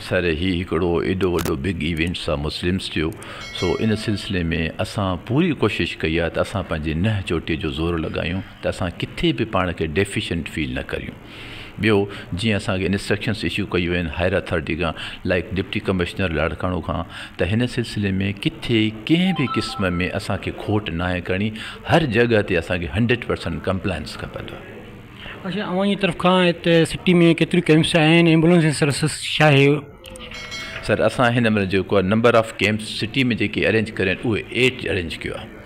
سر هي هڪڙو ايڏو وڏو بگ ايونٽ سا مسلمس ٿيو سو ان سلسلي ۾ اسان پوري ڪوشش ڪئي آهي ته اسان پنهنجي ننهن چوٽي جو زور لڳايون ته اسان ڪٿي به پاڻ کي ڊيفيشنٽ فيل نه ڪريون. ٻيو جيئن اسان کي انسٽرڪشنز اشو ڪيون ويون آهن هائر اٿارٽي کان لائيڪ ڊپٽي ڪمشنر لاڙڪاڻو کان ته هن سلسلي ۾ ڪٿي ڪنهن به قسم ۾ اسان کي کوٽ ناهي ڪرڻي هر جڳهه تي اسان کي هنڊريڊ پرسنٽ ڪمپلائنس کپندو. اچا اوهان جي طرف کان هتي سٽي ۾ ڪيتريون ڪيمپس آهن ايمبولنس جي سروسز ڇا آهي؟ سر اسان هن مهل جيڪو آهي نمبر آف ڪيمپس سٽي ۾ جيڪي ارينج ڪريا آهن اهي ايٽ ارينج ڪيو آهي.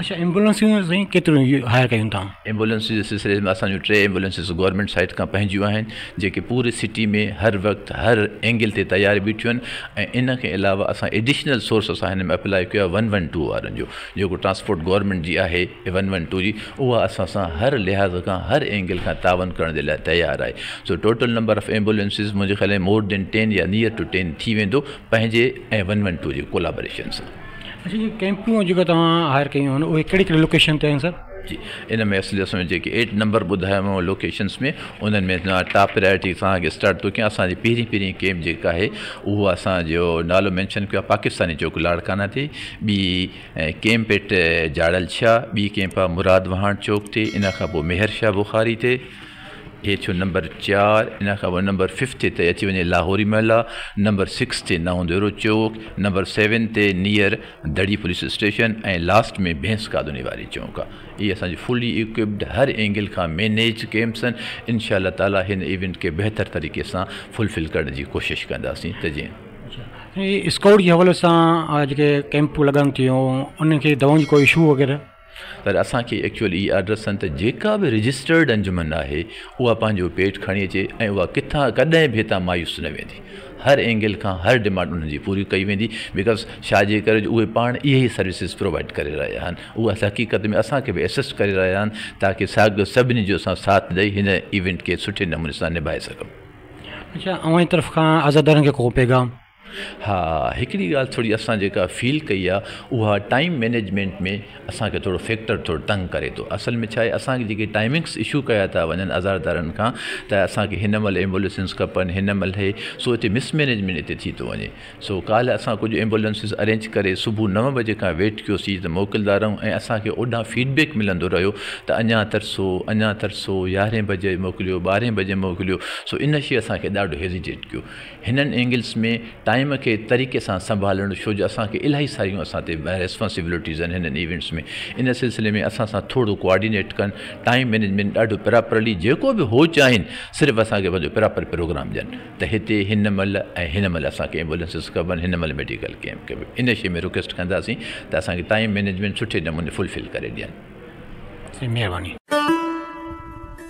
اچا ايمبولينسون سائين ڪيتريون هائير ڪيون تھان. ايمبولينس جي سلسلي ۾ اسان جون ٽي ايمبولينسز گورنمينٽ سائيٽ کان پنهنجيون آهن جيڪي پوري سٽي ۾ هر وقت هر اينگل تي تيار بيٺيون آهن ۽ ان کان علاوه اسان ايڊيشنل سورس اسان هن ۾ اپلاء ڪيو آهي ون ون ٽو وارن جو جيڪو ٽرانسپورٽ گورنمينٽ جي آهي ون ون ٽو جي اها اسان سان هر لحاظ کان هر اينگل کان تعاون ڪرڻ جي لاء تيار آهي سو ٽوٽل نمبر آف ايمبولينسز منهنجي خيال ۾ مور دين ٽين يا نيئر ٽو ٽين ٿي ويندو پنهنجي ۽ ون ون ٽو جي ڪولابريشن سان. اچھا جي ڪيمپون جيڪا توهان هائير ڪيون آهن اهي ڪهڙي ڪهڙي لوڪيشن تي آهن سر جي ان ۾ اصل اصل ۾ جيڪي ايٽ نمبر ٻڌايومو لوڪيشنس ۾ انهن ۾ ٽاپ پريارٽي سان اڳي اسٽارٽ ٿو ڪيان اسانجي پهرين پهرين ڪيمپ جيڪا آهي اهو اسانجو نالو مينشن ڪيو آهي پاڪستاني چوڪ لاڙڪانا تي ٻي ڪيمپ ايٽ جاڙل شاھ ٻي ڪيمپ آهي مراد وهاڻ چوڪ تي ان کان پوء ميھر شاھ بخاري تي هي ٿيو نمبر چار، ان کان پوء نمبر ففتھ تي اچي وڃي لاهوري محلا، نمبر سڪس تي نئون ديرو چوڪ، نمبر سيون تي نيئر دڙي پوليس اسٽيشن ۽ لاسٽ ۾ ڀينس کاڌوني واري چونڪ آ. اهي اسان جي فلي اڪوپڊ هر اينگل کان مينيج ڪئمپس آهن، انشاء الله تعالي هن ايونٽ کي بهتر طريقي سان فل فل ڪرڻ جي ڪوشش ڪنداسين ته جيئن. اسڪائوٽ جي حوالي سان جيڪي ڪئمپ لڳن ٿيون انهن کي دوائن جي ڪو اشو وغيره. پر اسان کي ايڪچوئلي اهي آرڊرس آهن ته جيڪا به رجسٽرڊ انجمن آهي اها پنهنجو پيٽ کڻي اچي ۽ اها ڪٿان ڪڏهن به هتان مايوس نه ويندي هر اينگل کان هر ڊمانڊ انهن جي پوري ڪئي ويندي بڪاز ڇا جي ڪري جو اهي پاڻ اهي ئي سروسز پرووائيڊ ڪري رهيا آهن اهو اسان حقيقت ۾ اسان کي به اسسٽ ڪري رهيا آهن تاڪي ساڳيو سڀني جو اسان ساٿ ڏئي هن ايونٽ کي سٺي نموني سان نڀائي سگهون اچا اوهان جي طرف کان عزادارن کي ڪو پيغام ها هڪڙي ڳالهه ٿوري اسان جيڪا فيل ڪئي آ اها ٽائيم مينيجمينٽ ۾ اسان کي ٿورو فيڪٽر ٿورو تنگ ڪري ٿو اصل ۾ ڇاهي اسان کي جيڪي ٽائيمنگس اشو ڪيا ٿا وڃن ازاردارن کان ته اسان کي هن مهل ايمبوليسنس کپن هن مهل هي سو هتي مس مينيجمينٽ هتي ٿي ٿو وڃي سو ڪالهه اسان ڪجهه ايمبوليسنس ارينج ڪري صبح نو بجي کان ويٽ ڪيوسي ته موڪلدا رهون ۽ اسان کي اوڏان فيڊ بيڪ ملندو رهيو ته اڃان ترسو اڃان ترسو يارهين بجي موڪليو ٻارهين بجي موڪليو سو ان شي اسان کي ڏاڍو هيزيٽيٽ ڪيو هنن اينگلس ۾ ٽائيم کي طريقي سان سنڀالڻ ڇو جو اسان کي الاهي ساريون اسان تي ريسپانسبلٽيز آهن هنن ايونٽس ۾ ان سلسلي ۾ اسان سان ٿورو ڪوآرڊينيٽ ڪن ٽائيم مينيجمينٽ ڏاڍو پراپرلي جيڪو به هو چاهين صرف اسان کي پنهنجو پراپر پروگرام ڏين ته هتي هن مهل ۽ هن مهل اسان کي ايمبولينسز کپن هن مهل ميڊيڪل ڪيمپ کپي ان شي ۾ رڪويسٽ ڪنداسين ته اسان کي ٽائيم مينيجمينٽ سٺي نموني فلفل ڪري ڏين جي مهرباني.